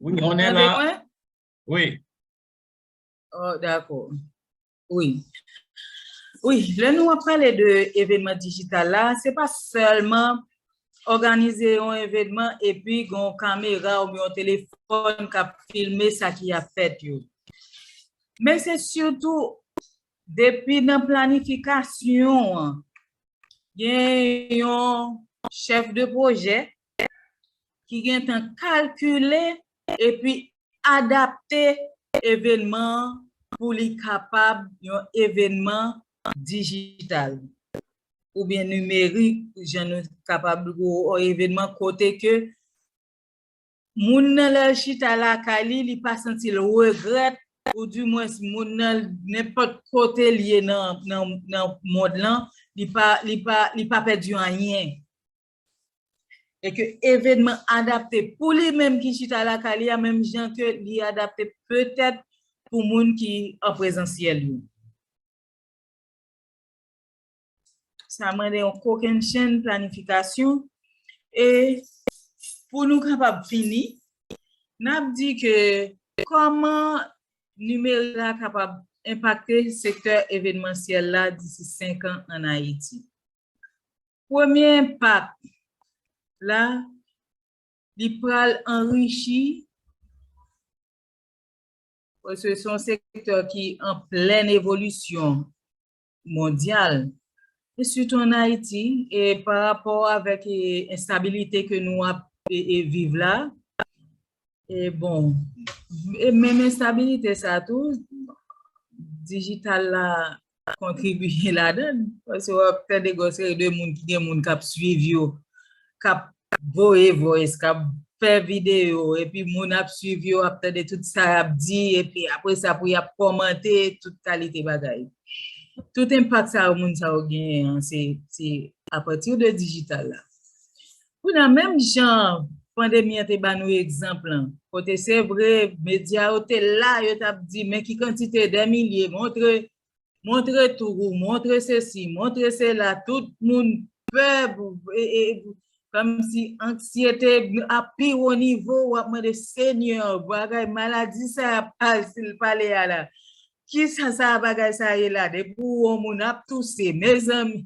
Wi, on en la. Wi. Oh, dako. Wi. Wi, lè nou ap pale de evenman digital la, se pa selman organize yon evenman epi gon kamera ou yon telefon kap filme sa ki ap fèt yo. Men se sitou depi nan planifikasyon an, gen yon chef de proje ki gen tan kalkile epi adapte evenman an pou li kapab yon evenman dijital oubyen nimerik jan nou kapab yon evenman kote ke moun nan lè l chita lakay li, li pa santi l regrèt ou di mwens moun nan nenpòt kote l ye nan mond lan li pa pèdi anyen. e ke evenman adapte pou li menm ki chita lakay li a menm jan ke li adapte petèt pou moun ki an prezansyèl yo. Sa mande yon kokennchenn planifikasyon e pou nou kapab fini, n ap di ke kòman nimerik la kapab enpakte sektè evenmansyèl la disi 5 an an Ayiti. Premye enpak la, li pral anrichi, paske se yon sektè ki an plèn evolisyon mondyal, e sitou an Ayiti, e pa rapò avèk enstabilite ke nou ap viv la, E bon, e menm enstabilite sa tou, digital la kontribiye ladan, paske w ap tande gwo seri de moun ki gen moun k ap swiv yo, k ap voye voice, k ap fè videyo, epi moun ap swiv yo, ap tande tout sa y ap di, epi apre sa pou y ap kòmante, tout kalite bagay. Tout enpak sa yo moun sa yo genyen an, se apati de digital la. Kounye a, menm jan pandemi an te ba nou egzanp lan, kote se vre medya yo te la, yo t ap di men ki kantite dè milye, montre, montre tou, montre sesi, montre sela, tout moun pè, kòmsi anksyete a pi wo nivo, w ap mande Senyè, bagay, maladi sa y ap pale a la, Kisa sa bagay sa ye la depi ou wè yon moun ap touse mezanmi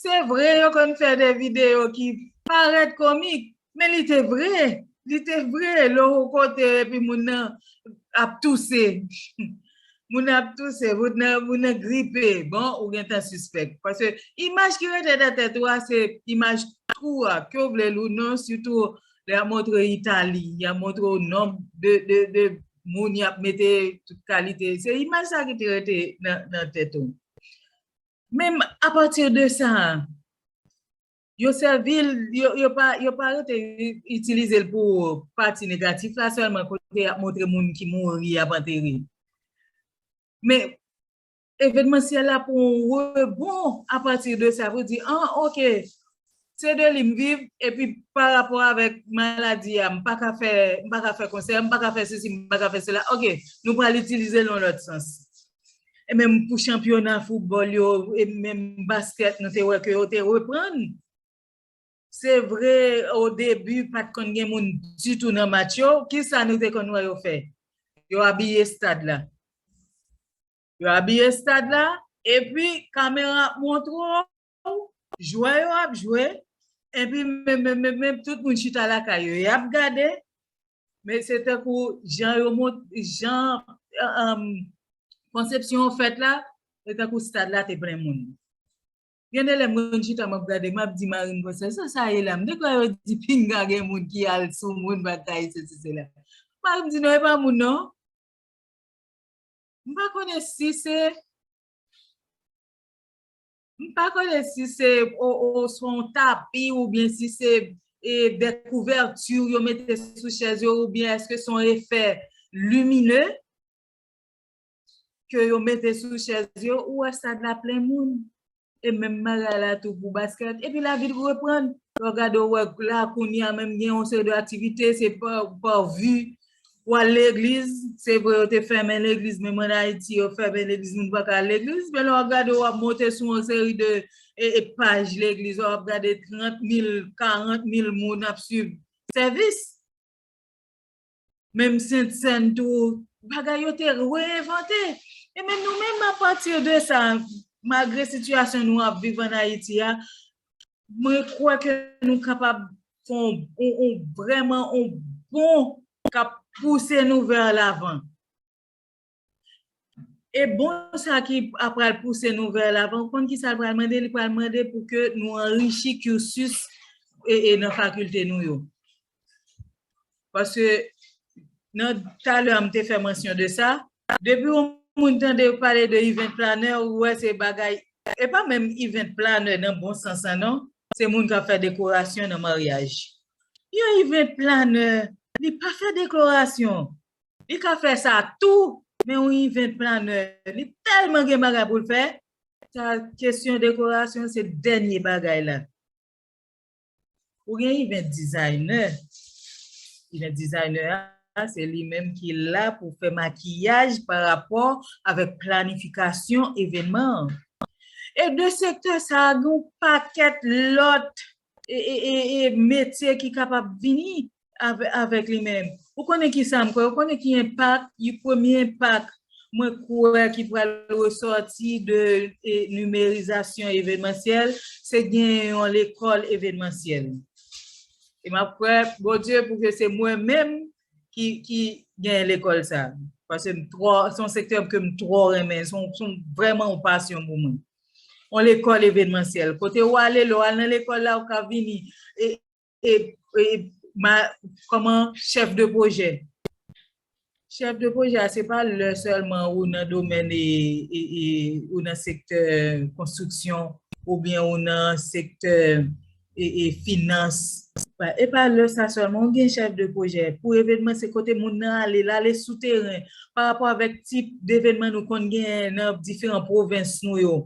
se vre yo konn fè de video ki parèt komik men li te vre li te vre lè ou kote epi moun nan ap touse moun nan ap touse moun nan gripe bon ou gentan sispèk paske imaj ki rete nan tèt ou a se imaj twou a ke w vle l ou non sitou lè y ap montre Itali y ap montre w nonb de moun y ap mete tout kalite, se imaj sa ki te rete nan tèt ou. Men a pati de sa, yo sèvi l, yo pa rete itilize l pou pati negatif la sèlman kote y ap montre moun ki mouri y ap antere. Men, Evenmansyèl la pou yon rebon apati de sa pou di an ok se de li m viv epi pa rapò avèk maladi a m pa ka fè m pa ka fè konsè m pa ka fè sesi m pa ka fè sela ok nou pral itilize l yon lòt sans. E menm pou chanpyona foutbòl yo e menm baskèt nou te wè ke yo te reprann. Se vre o debi pat konn gen moun ditou nan match yo, kisa nou te konn wè yo fè? Yo abiye stad la. Yo abiye stad la, epi kamera ap montre w, jwè yo ap jwe, epi menmenmenmenmen tout moun chita lakay yo, y ap gade, men se tankou jan yo mont, jan konsepsyon an fèt la, se tankou stad la te plen moun. Gen de lè m konn chita m ap gade, m ap di mari m konsa, sa sa ye la? M te kwè yo di pinga gen moun ki al sou moun batay sesi sela. Mari m di non e pa moun non. M pa konnen si se, m pa konnen si se oswa yon tapi oubyen si se de kouvèti yo mete sou chèz yo oubyen èske se yon efè limine. ke yo mete sou chèz yo, ou wè stad la plen moun. E menm bagay la tou pou baskèt. Epi lavi l reprann. Lè w gade ou wè la kounye a menm gen yon seri de aktivite, se pa par vu. Ou al legliz, se vre yo te fèmen legliz, menm an Ayiti yo fèmen legliz, moun pa ka al legliz. Men lè w ap gade ou ap monte sou yon seri de paj legliz, ou ap gade 30 mil, 40 mil moun ap swiv sèvis. Menm sentsèn tou, bagay yo te re-envante. E men nou menm a pati de sa, malgre sitiyasyon nou ap viv an Ayiti a, mwen kwè ke nou kapab fè yon vrèman yon bond kap pouse nou vè lavan. E bon sa ki ap pral pouse nou vè l avan, ou konn ki sa l pral mande? Li pral mande pou ke nou anrichi cursus e nan fakilte nou yo. Paske nan talè a m te fè mansyon de sa, depi yon moun tande yo pale de event planner ou wè se bagay, e pa menm event planner nan bon sans lan non, se moun k ap fè dekorasyon nan maryaj. Yon event planner li pa fè dekorasyon. Li ka fè sa tou, men yon event planner li tèlman gen bagay pou l fè, sa kesyon dekorasyon se dènye bagay la. Ou gen event designer, event designer a se li menm ki la pou fè makiyaj pa rapò avèk planifikasyon evènman an. E de sektè sa gen yon pakèt lòt metye ki kapab vini avèk li menm. Ou konnen ki sa m kwè, ou konnen ki enpak, yon premye enpak mwen kwè ki pral resòti de nimerizasyon evenmansyèl, se gen yon lekòl evenmansyèl. E m ap kwè, Bondye, pou ke se mwen menm ki genyen lekòl sa. Pase m twò, se yon sektè ke m twò renmen, se yon vreman yon pasyon pou mwen. Yon lekòl evenmansyèl, kote ou ale, lè ou al nan lekòl la, ou ka vini, e, kòman, chèf de pwojè. Chèf de pwojè a, se pa lè sèlman ou nan domèn e, ou nan sektè konstriksyon, oubyen ou nan sektè. e finans. E pa lè sa sèlman ou gen chèf de pwojè pou evenman se kote moun nan ale, l ale sou teren pa rapò avèk tip devenman nou konn genyen nan diferan pwovens nou yo.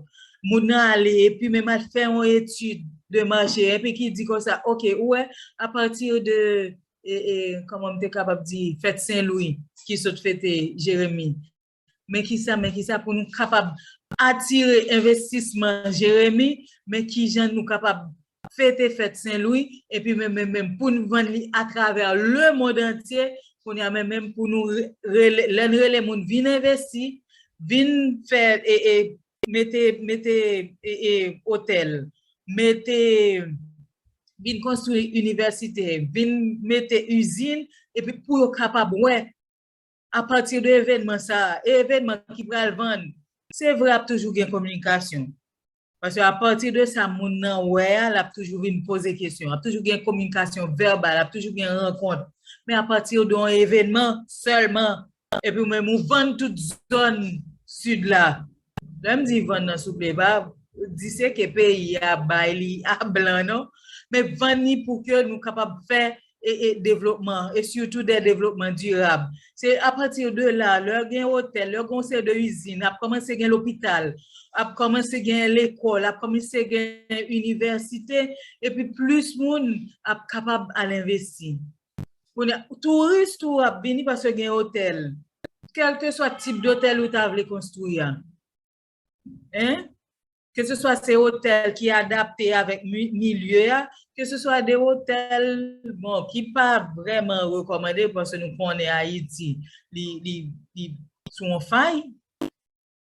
Moun nan ale epi menm al fè yon etid de mache epi ki di kon sa ok ou wè a pati de e e kòman m te kapab di fèt Sen Lwi ki sot fete Jeremi. men ki sa, men ki sa pou nou kapab atire envestisman Jeremi, men ki jan nou kapab fete fèt Sen Lwi, epi men men men pou nou vann li atravè le mond antye, kounye a men men pou nou rele, lè nou rele moun vin envesti, vin fè e e mete, mete e e otèl, mete, vin konstwi inivèsite, vin mete izin, epi pou yo kapab wè. A pati de evènman sa a, e evènman ki pral vann, se vre ap toujou gen kominikasyon. Paske a pati de sa moun nan wè a, l ap toujou vin poze kesyon. Ap toujou gen kominikasyon vèbal, ap toujou gen rankont. Men a pati de yon evènman sèlman, epi ou menm ou vann tout zòn Sid la, Lèm di van nan souple pa diseke peyi a bay li a blan non men van ni pou ke nou kapab fè e devlopman e sitou de devlopman dirab se a pati de la lè gen otèl lè gon se de izin ap kòmanse gen lopital ap kòmanse gen lekòl ap kòmanse gen inivèsite epi plis moun ap kapab al envesti. Kounya touris tou ap vini paske gen otèl. Kèlke swa tip dotèl ou ta vle konstwi a. Hein? Ke se swa se otèl ki adapte avèk milye a, ke se swa de otèl bon ki pa vrèman rekòmande paske nou konnen Ayiti li sou yon fay.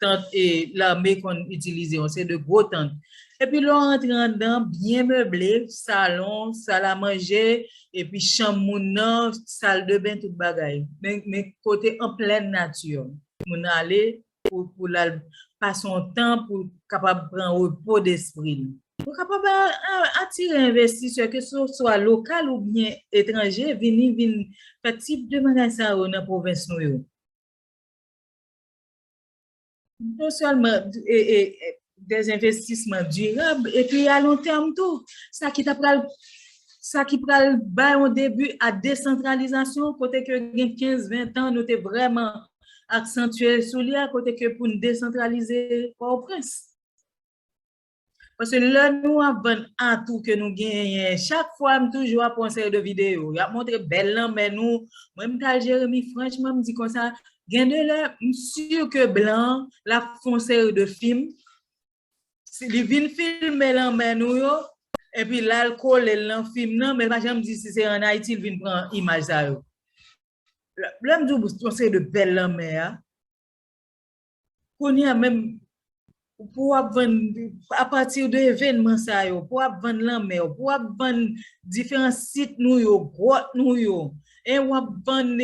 tant lame konn itilize yon seri de gwo tant epi lè w rantre anndan an byen meble, salon, sal a manje epi chanm moun nan, sal de ben tout bagay men kote an plèn nati moun nan ale pou l al pase yon tan pou l kapab pran repo despri l. Ou kapab atire envestisè ke se swa lokal oubyen etranje vini vin fè tip de bagay sa yo nan pwovens nou yo. Non sèlman de zenvestisman dirab, epi a lon tèm tou, sa ki ta pral, sa ki pral bay yon debi a desantralizasyon, kote ke gen 15, 20 tan nou te vreman aksantye sou li a, kote ke pou n desantralize Pòtoprens. Pase lè nou ap vann atou ke nou genyen, chak fwa m toujou ap pran seri de videyo, y ap montre bèl lanmè nou, mwen m tal Jeremi franchman m di konsa, gen de lè m sur ke blan an l ap fè yon seri de fim, li vin filme lanmè nou yo, epi l al kole l nan fim nan, men l pa janm di si se an Ayiti l vin pran imaj sa yo. Lè m di w yon seri de bèl lanmè a. Kounye a menm, pou w ap vann, apati de evènman sa yo, pou w ap vann lanmè w, pou w ap vann diferan sit nou yo, gwòt nou yo, e w ap vann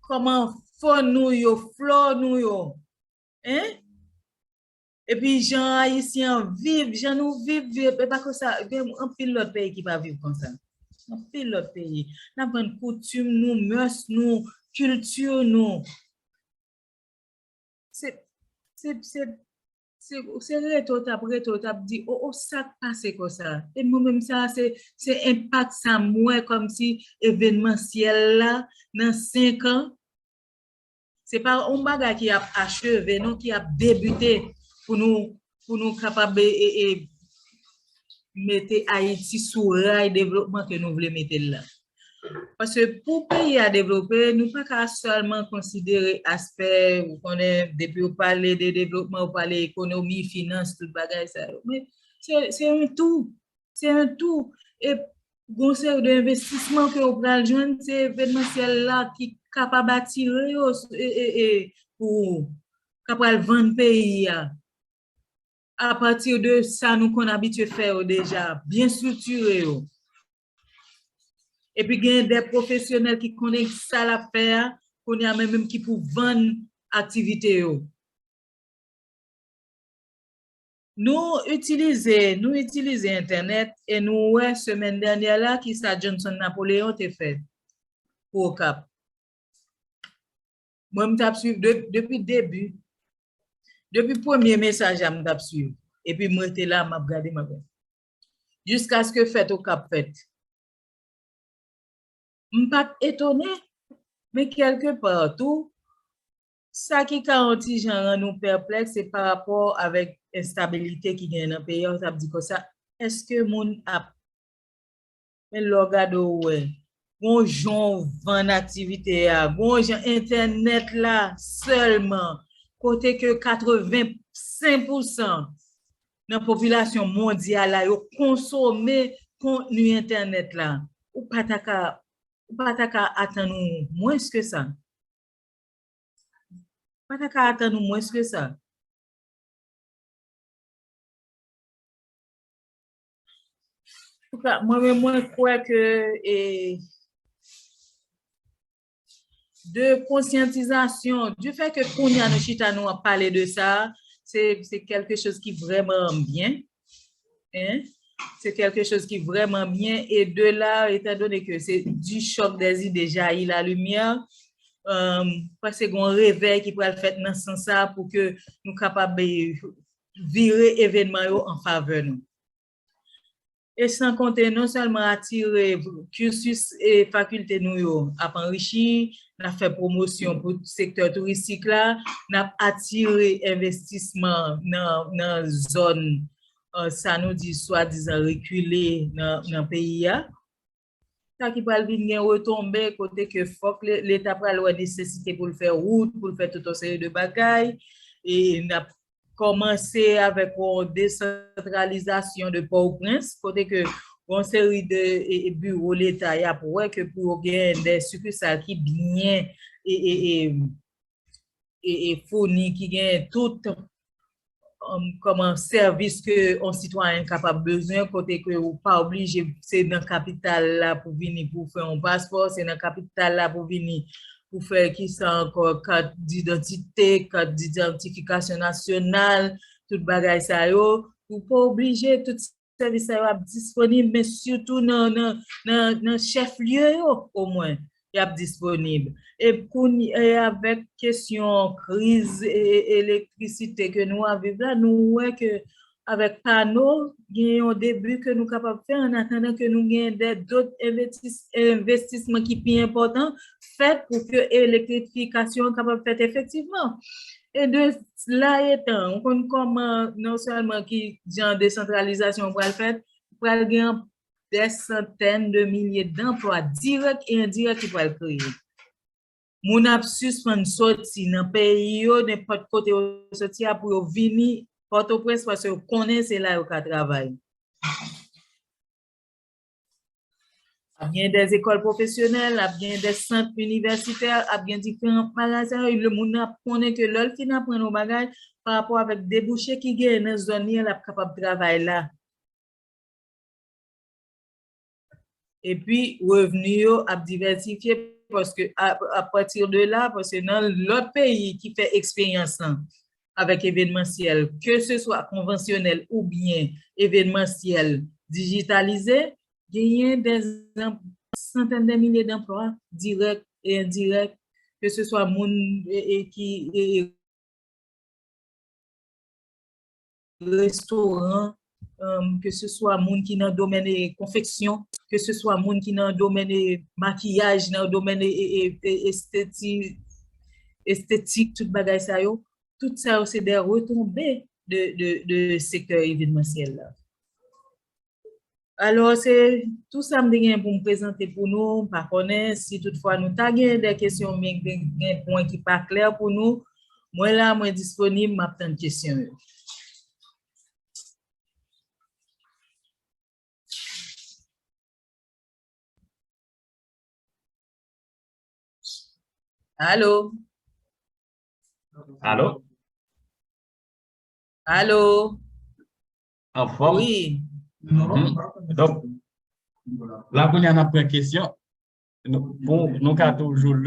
kòman fòn nou yo, flò nou yo, e, Epi jan ayisyen an viv, jan nou viv vye, e pa konsa, gen anpil lòt peyi ki pa viv konsa. Anpil lòt peyi. N ap vann koutim nou, mès nou, kilti nou. Se, se, se, se, se rete w t ap rete w t ap di o o sa k pase konsa? E mwen menm sa a se, se enpak sa m wè kòmsi evenmansyèl la nan senkan. Se pa yon bagay ki ap acheve non, ki ap debute pou nou pou nou kapab e mete Ayiti sou ray devlopman ke nou vle mete l la. Paske pou peyi a devlope, nou pa ka sèlman konsidere aspè ou konnen depi ou pale de devlopman ou pale ekonomi, finans, tout bagay sa yo. Se yon tou, se yon tou. Gon seri de envestisman ke ou pral jwenn se evenmansyèl la ki kapab atire yo pou ou, ka pral vann peyi a. Apati de sa nou konn abitye fè yo deja, byen striktire yo. Epi gen de pwofesyonèl ki konnen sa l ap fè a, kounye a men menm ki pou vann aktivite yo. Nou itilize nou itilize entènèt e nou wè semèn dènyè la ki sa Johnson Napoléon te fè pou Okap. Mwen m t ap suiv depi debi, depi premye mesaj la m t ap suiv epi m rete la m ap gade m ap gade jiskaske fèt Okap fèt. M pa t etone men kèlke pa tou Sa ki ka yon ti jan rann ou pèplèks se pa rapò avèk enstabilite ki genyen nan peyi a, ou t ap di konsa, èske moun ap. Men lè w gade ou wè, gen yon jan w vann aktivite a, gen yon jan entènèt la sèlman, kote ke 85 pousan nan popilasyon mondyal la yo konsome kontni entènèt la, ou pa ta ka, ou pa ta ka atann ou mwens ke sa. Mwen ta ka atann ou mwens ke sa. Mwen men mwen kwè ke e de konsyantizasyon, di fè ke kounye a nou chita nou ap pale de sa, se kelke choz ki vreman byen. Hein? Se kelke choz ki vreman byen e de la etan done ke se di chòk dè zide jayi la limyè, m panse gon revèy ki pral fèt nan sans sa pou ke nou kapab vire evenman yo an favè nou. E san konte non sèlman atire, kirsys e fakilte nou yo ap anrichi, N ap fè pwomosyon pou sektè touristik la, n ap atire envestisman nan zòn sa nou di swadizan rekile nan peyi a. Sa ki pral vin gen retonbe kote ke fòk leta pral wè nesesite pou l fè wout, pou l fè tout yon seri de bagay. Kòmanse avèk yon desantralizasyon de Pòtoprens, kote ke yon seri de biwo leta y ap wè ke pou yo gen de sikisal ki byen founi, ki gen tout kòman sèvis ke yon sitwayen kapab bezwen, kote ke ou pa oblije se nan kapital la pou vini pou fè yon paspò, se nan kapital la pou vini pou fè ki sa ankò, kat didantite, kat didantifikasyon nasyonal, tout bagay sa yo, ou pa oblije tout sèvis sa yo ap disponib men sitou nan chèf lye yo omwen y ap disponib. E kounye a avèk kesyon kriz elektrisite ke nou ap viv la nou wè ke Avèk pa nou, gen yon debi ke nou kapab fè an atandan ke nou gen dè dot envestisman ki pi enpòtan fèt pou ke elektrifikasyon kapab fèt efektivman. E de la etan, ou konn kòman non sèlman ki jan desantralizasyon pral fèt, pral gen dè santèn de milye danplwa dirèk e endirèk ki pral kreye. Moun ap sispann soti nan peyi yo, nenpòt kote yo soti a, pou yo vini Pòtoprens paske yo konnen se la yo ka travay. Ap gen dè ekòl pwofesyonèl, ap gen dè sant inivèsitè, ap gen diferan magazen, le moun nan ap konnen ke lè l fin aprann yon bagay, pa rapò avèk debouche ki genyen nan zòn li an, l ap kapab travay la. epi revni yo ap divèsifye paske apati de la, paske nan lòt peyi ki fè eksperyans lan avèk evenmansyèl, ke se swa konvansyonèl oubyen evenmansyèl dijitalize, genyen dè santèn dè milye danplwa dirèk e endirèk ke se swa moun ki. restoran, ke se swa moun ki nan domèn konfeksyon, ke se swa moun ki nan domèn makiyaj, nan domèn estetik, tout bagay sa yo, tout sa yo se de retonbe de sektè evidmansyèl la. Alors, se tou sa m te gen pou m prezante pou nou, m pa konnen si tout fwa nou ta gen de kesyon men gen pwen ki pa klè pou nou, mwen la mwen disponib m ap tann kesyon yo. Alo? Alo? Alo? Anfòm? Wi. Donk, la kounye a n ap pran kesyon. Nou ka toujou.